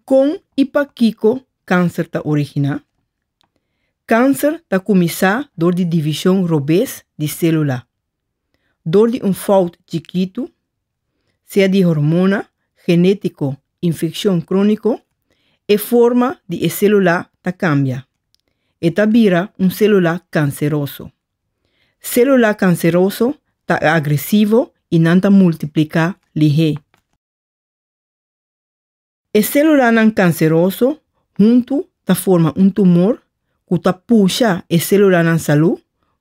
Kon i pakiko kanser ta originá? Kanser ta kuminsá dor di divishon robes di sélula, dor di un fout chikitu, sea di hormona, genétiko, infekshon króniko, e forma di e sélula ta kambia. E ta bira un sélula kanseroso. Sélula kanseroso ta agresivo i nan ta multipliká lihé. E celulanan canceroso huntu ta forma un tumor cu ta pusha e celulanan salu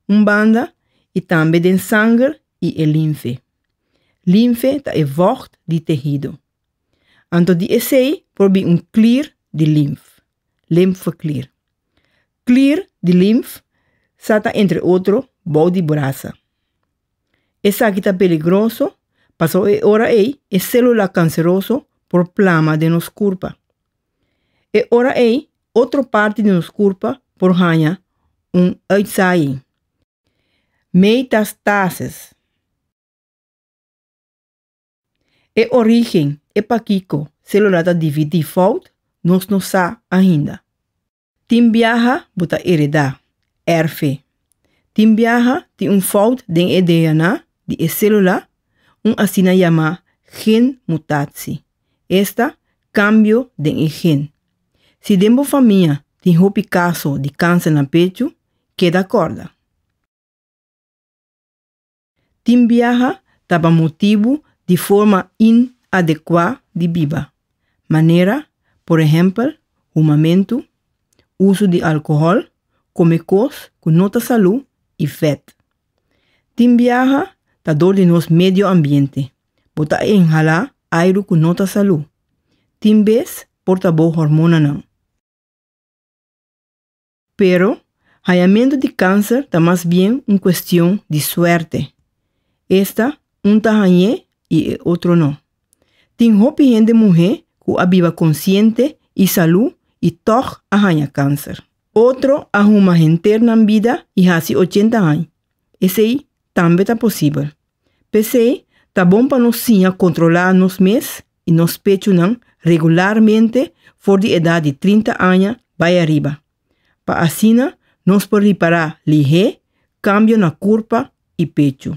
un banda y tambe den sanger y e limfe. Limfe ta e vocht di tehido. Anto di esey por bin un klier di limf, lymfeklier. Klier di limf sa ta entre otro bou di brasa. Esaki ta peligroso pasobra e ora ei e sélula kanseroso por plama den nos kurpa. E ora ei otro parti di nos kurpa por haña un uitzaaiing, metastasis. E orígen, e pakiko sélula ta dividí fout, nos no sa ainda. Tin biaha bo ta eredá, erfe. Tin biaha tin un fout den e DNA di e sélula, un asina yamá gen mutatsi, esta, kambio den e gen. Si den bo famia tin hopi kaso di kanser na pechu, keda kòrda. Tin biaha taba motibu di forma in-adekuá di biba, manera, por ehèmpel, humamentu, usu di alkohòl, kome kos ku no ta salú i fèt. Tin biaha ta dor di nos medio ambiente, bo ta inhalá airu ku no ta salú, tin bes por ta bo hormonanan. Pero, hañamentu di kanser ta mas bien un kuestion di suerte. Esta un ta hañ'é i e otro no. Tin hopi hende muhé ku a biba konsiente i salú i tòg a haña kanser. Otro a huma henter nan bida i hasi ochenta aña. Esei tambe ta posibel. P'esei, ta bon pa nos siña kontrolá nos mes i nos pechunan regularmente for di edat di trinta aña bai ariba, pa asina nos por ripará lihé kambio na kurpa i pechu.